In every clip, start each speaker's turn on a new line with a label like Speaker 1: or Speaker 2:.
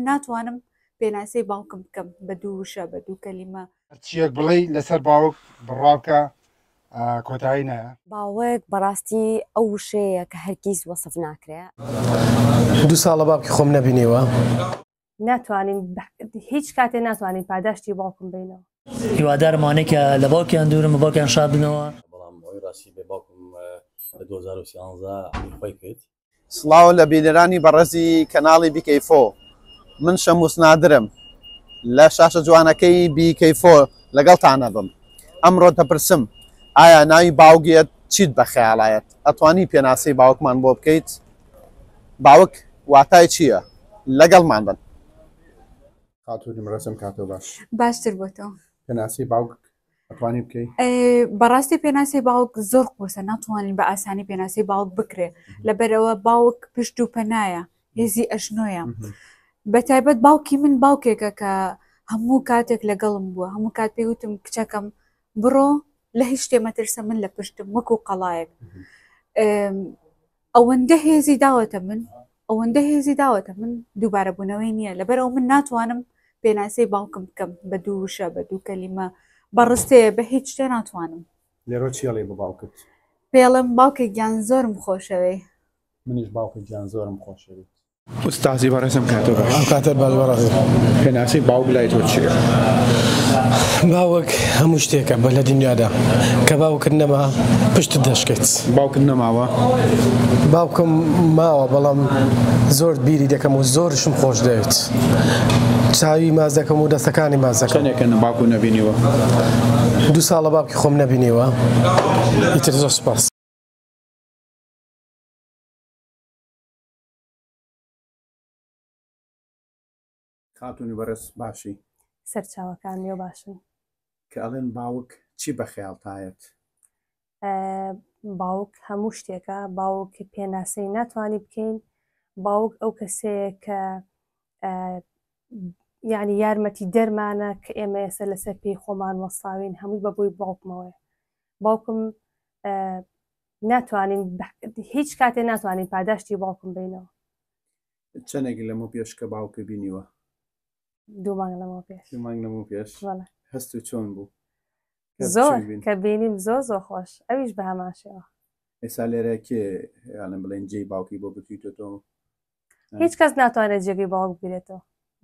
Speaker 1: ناتوانم پێناسەی باوکم بکەم بە دوو وشە بە دوو کەلیمە. هەرچییەک بڵێی
Speaker 2: لەسەر باوک بڕوابکە کۆتایی نایە. باوک
Speaker 3: بەڕاستی ئەو وشەیە کە هەرگیز وەسف ناکرێ.
Speaker 4: دوو ساڵە باوکی خۆم نەبینیوە.
Speaker 5: ناتوانین هیچ کاتێ ناتوانین پاداشتی باوکم بەینەوە. هیوادارم ئەوانەی
Speaker 6: کە لە باوکیان دوورن بە باوکیان شاد بنەوە. بەڵام ئەوەی ڕاستی
Speaker 7: بێ باوکم لە دوو هەزار و سیانزە عەمری خۆی کرد. سڵاو لە
Speaker 8: بینەرانی بەڕێزی کەناڵی بیکەیفۆ من شەموس نادرم لە شاشە جوانەکەی بیکەیفۆ لەگەڵتانەبم ئەمڕۆ دەپرسم ئایا ناوی باوگێت چیت بە خەیاڵایەت ئەتوانی پێناسەی باوکمان بۆ بکەیت باوک واتای چییە لەگەڵمان بن
Speaker 9: خاتوو نمرەسم کاتۆ باش باشتر بۆ تۆ
Speaker 1: پێناسەی باوک
Speaker 9: بەڕاستی
Speaker 1: پێناسی باوک زۆر قۆسە ناتوانین بە ئاسانی پێناسی باوک بکرێ لەبەرەوە باوک پشت و پەنایە هێزی ئەشنۆیە بە تایبەت باوکی من باوکێکە کە هەموو کاتێک لەگەڵم بووە هەموو کات پێ وتم کچەکەم بڕۆ لە هیچ شتێ مەترسە من لە پشتم وەکو قەڵایەک ئەوەندە هێزی داوەتە من ئەوەندە هێزی داوەتە من دووبارە بوونەوەی نییە لەبەرەوە من ناتوانم پێناسەی باوکم بکەم بە دوو وشە بە دوو کەلیمە بە ڕستەیە بە هیچ شتێ ناتوانم لێرۆ چیڵێ
Speaker 9: بە باوکت پێڵم باوکە
Speaker 1: گیان زۆرم خۆشەوێی. منیش باوکە
Speaker 9: گیان زۆرم خۆشەوێیت. ئوستازی بەڕێزم کاتۆ باش ئەم کاتە باش بەڕێز
Speaker 4: پێناسی باوک
Speaker 9: لای تۆ چییە؟
Speaker 4: باوک هەموو شتێکە بە لە دنیادا کە باوکت نەما پشت دەشکێت باوکت نەماوە
Speaker 9: باوکم
Speaker 4: ماوە بەڵام زۆر بیری دەکەم و زۆرشم خۆش دەوێت چاوی ماز دەکەم و دەستەکانی ماز دەکەم چەندێکە باوکو نەبینیوە دوو ساڵە باوکی خۆم نەبینیوە ئیتر زۆر سپاس
Speaker 9: خاتونی بەڕێز باشی. سەرچاوەکان
Speaker 5: لێ باشن. کە ئەڵێن
Speaker 9: باوک چی بە خەیاڵتایەت؟
Speaker 5: باوک هەموو شتێکە باوک پێناسەی ناتوانانی بکەین باوک ئەو کەسەیە کە یعنی یارمەتی دەرمانە کە ئێمە ئێستا لەسەر پێی خۆمان وەساوین هەمووی بە بۆی باوکمەوەی باوکم ناتوانین هیچ کاتێ ناتوانین پاداشتی باوکم بینەوە
Speaker 9: چەندێک لەمە پێش کە باوکە بینیوە
Speaker 5: دوومانگ لەمە پێش دوومانگ لەمە پێش
Speaker 9: هەست و چۆن بوو زۆر
Speaker 5: کە بینیم زۆ زۆ خۆش ئەویش بە هەماشەوە ئێستا لێرە
Speaker 9: کێ یاڵم بڵێن جێی باوکی بۆ بکریتۆ هیچ
Speaker 5: کەس ناتوانێت جێگەی باوک بگرێتەوە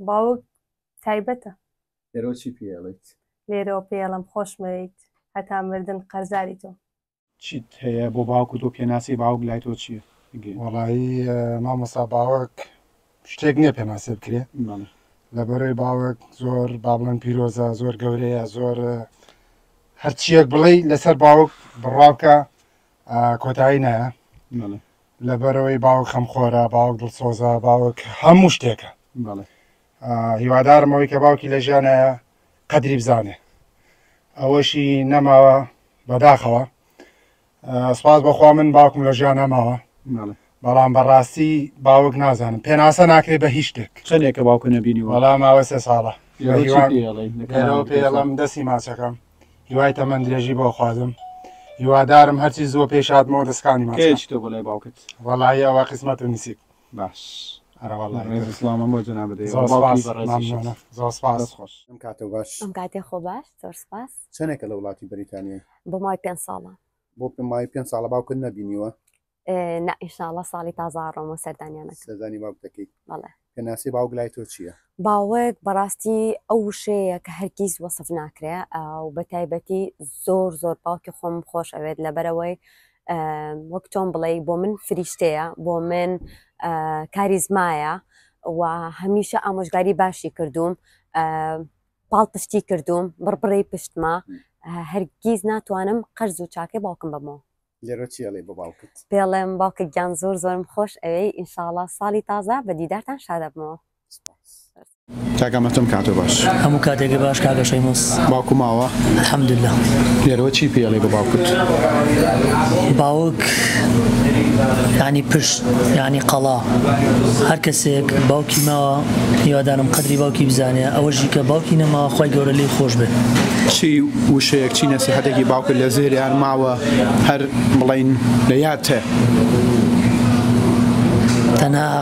Speaker 5: باوک تایبەتە لێرەوە چی
Speaker 9: پێڵیت لێرەوە پێڵم
Speaker 5: خۆشمەویت هەتا مردن قەرزاری تۆ چیت هەیە
Speaker 9: بۆ باوک و تۆ پێناسی باوک لای تۆ چیە گێ. وەڵایی
Speaker 2: مامۆستا باوەک شتێک نیە پێناسێ بکرێ بەڵێ لە بەرەی باوەک زۆر با بڵێن پیرۆزە زۆر گەورەیە زۆر ە، هەرچیەک بڵێ لەسەر باوەک بڕاوکە کۆتایی نایە بەڵێ لە بەرەوەی باوەک خەم خۆرە باوەک دڵسۆزە باوەک هەموو شتێکە بەڵێ. ئا هیوادارم ئەوەی کە باوکی لە ژیانە قەدری بزانێ ئەوەشی نەماوە بەداخەوە سپاس بەخوا من باوکم لە ژیان نەماوە بەڵام بەڕاستی باوک نازانم پێناسە ناکرێت بە هیچ شتێک چەندێکە باوکە نەبینی
Speaker 9: وەڵام ماوە سێ ساڵە
Speaker 2: پێڵم دەستی ماچەکەم هیوای تەمەند درێژی بۆ خوازم هیوادارم هەرچی زۆر پێشاتمەوە دەستکانی ماچ باوکت
Speaker 9: وەڵی ئەوە قسمەت
Speaker 2: و نسیب باش
Speaker 9: ئەرەوەڵڵا ڕێز
Speaker 2: سڵامم بۆ جەنابت دەیە زۆر سوپاس بە ڕێزی شێخ مەمنونە زۆر سوپاس دەست
Speaker 9: خۆش ئەم کاتەو باش ئەم کاتێ خۆ باش
Speaker 3: زۆر سوپاس چەنێکە لە وڵاتی
Speaker 9: بەریتانیای بۆ مای پێنج ساڵە
Speaker 3: بۆ پێ مای پێنج
Speaker 9: ساڵە باوکت نەبینیوە نا
Speaker 3: ئیشاڵا ساڵی تازە ئەڕۆمەوە سەردانیانەکەم سەردانی باوک دەکەی
Speaker 9: بەڵێ پێناسی
Speaker 3: باوک لای
Speaker 9: تۆ چییە باوک
Speaker 3: بەڕاستی ئەو وشەیە کە هەرگیز وەسف ناکرێ و بە تایبەتی زۆر زۆر باوکی خۆم خۆش ئەوێت لەبەرەوەی وەک تۆم بڵێی بۆ من فریشتەیە بۆ من کاریزمایە و هەمیشە ئامۆژگاری باشی کردووم پاڵ پشتی کردووم بڕبڕی پشتمە هەرگیز ناتوانم قەرز و چاکەی باوکم بەمەوە لێرەچیڵێ بە
Speaker 9: باوکت پێڵێم باوکە گیان
Speaker 3: زۆر زۆرم خۆش ئەوەی ئینشاڵا ساڵی تازە بە دیدارتان شادەبمەوە سپاس. کاک ئەمە
Speaker 9: تۆم کاتۆ باش هەموو کاتێکی باش
Speaker 6: کاگە شەیمۆس باوکو ماوە
Speaker 9: حەمدللا
Speaker 6: لێرەوە چی
Speaker 9: پێڵێ بە باوکت
Speaker 6: باوک ینی پشت ینی قەڵا هەر کەسێک باوکی ماوە هیوادانم قدری باوکی بزانێ ئەوەژی کە باوکی نەما خی گەورە لی خۆش بێت چی
Speaker 9: وشەیەک چی نەسیحەتێکی باوکت لە زێریان ماوە هەر بڵین لە یاد تێ تەنها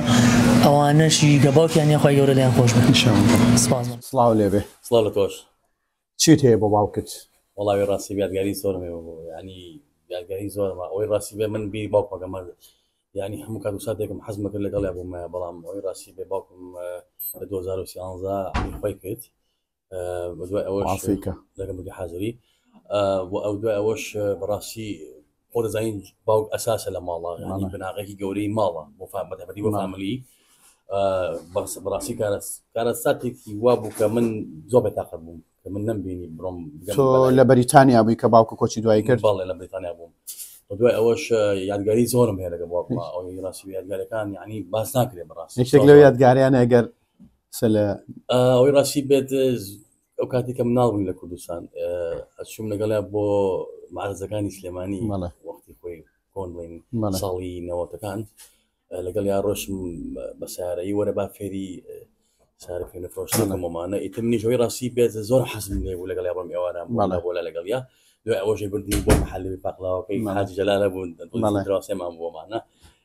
Speaker 6: ئەوانەش ی گە باوکیان نیە خوای گەورە لێیان خۆش بێت سپاس بۆ. سڵاو
Speaker 8: لێبێ سڵاو لە تۆش.
Speaker 7: چیت هەیە بۆ
Speaker 8: باوکت؟ وەڵاهی ڕاستی
Speaker 7: یادگاری زۆرم هەیە بۆ یانی یادگاری زۆرم ئەوەی ڕاستی بێ من بیری باوکم ئەکەم یانی هەموو کات و ساتێکم حەزم ئەکرد لەگەڵیا بوومایە بەڵام ئەوەی ڕاستی بێ باوکم لە دوو هەزار و سیانزە عەمری خوەی کرد دوای ئەوە لەگەمەکە حاضری و ئەو دوای ئەوەش بەڕاستی خۆ دەزانین باوک ئەساسە لە ماڵە بناغێکی گەورەی ماڵە بۆ فامەتەبەری بۆ فاملی بەڕاستی کارەساتێکی وا بوو کە من زۆر بەتاقە بووم کە من نمبینی بڕۆم لە
Speaker 8: بەریتانیا بووی کە باوکە کۆچی دوای کرد باڵێ لە بریتانیا بووم
Speaker 7: دوای ئەوەش یادگاری زۆرم هەیە لەگە بۆ ڕاستی یادگارەکان یعنی باس ناکرێت بەڕاست شتێک لەو یادگاریانە
Speaker 8: گەر
Speaker 7: ئەوەی ڕاستی بێت ئەو کاتی کە مناڵ بووین لە کوردستان ئەچوم لەگەڵیا بۆ مارزەکانی سلێمانی مەڵە وەختی خۆی کۆن بڵین ساڵی نەوەتەکان لەگەڵ یا ڕۆشم بە سارەی وەرە با فێری سارە پێ نەفرۆشتەکەمەمانە ئیتر منیشەوەی ڕاستی بێت زۆر حەزم لێ بوو لەگەڵ بەم ئێوارە ماڵە بۆ لە لەگەڵ یا دوای ئەوەشی بردنی بۆ حەلی پاقلاوەکەی حاجی جەلالە بوون دراسێمان بۆمانە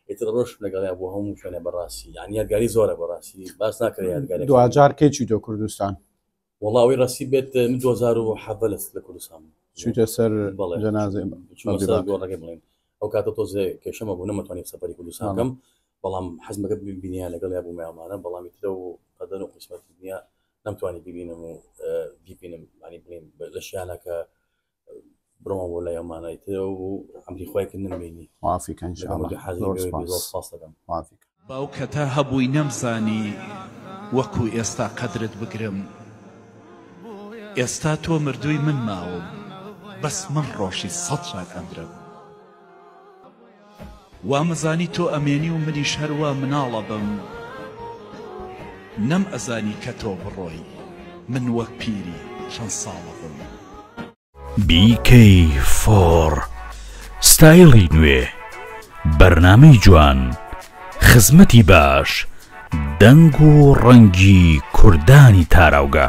Speaker 7: ئیتر ڕۆشتم لەگەڵیا بۆ هەموو شوێنە بەڕاستی یان یادگاری زۆرە بەڕاستی باس ناکرێ یادگاری دواجار کەی چی دۆ
Speaker 8: کوردستان وڵاوی ڕاستی
Speaker 7: بێت من 2007 لەست لە کوردستان چیتە سەر
Speaker 8: جەنازی گۆڕەکە
Speaker 7: بڵێن ئەو کاتە تۆزێ کێشەمە بوو نەمەتوانانی سەپەری کوردستانەکەم بەڵام حەزمەکە بینیا لەگەڵ یا بوومیانمانە بەڵامی ترە و قەدەن و قسمەت دنیا نەمتوانی ببینم و بیبینم ینی بڵێن لە شیانەکە بڕۆمە بۆ لای ئەمانای تر و ئەمری خۆی کە نمبینی مافی کەن
Speaker 8: مافی
Speaker 10: باوکە تا هەبووی نەمزانی وەکو ئێستا قەدرت بگرم ئێستا تۆ مردووی من ماوم بەس من ڕۆژی سەد جار ئەمرم. وامەزانی تۆ ئەمێنی و منیش هەر وا مناڵ ئەبم نەم ئەزانی کە تۆ بڕۆی من وەک پیری چەند ساڵ ئەبم. BK
Speaker 11: فۆر ستایڵی نوێ بەرنامەی جوان خزمەتی باش دەنگ و ڕەنگی کوردانی تاراوگە.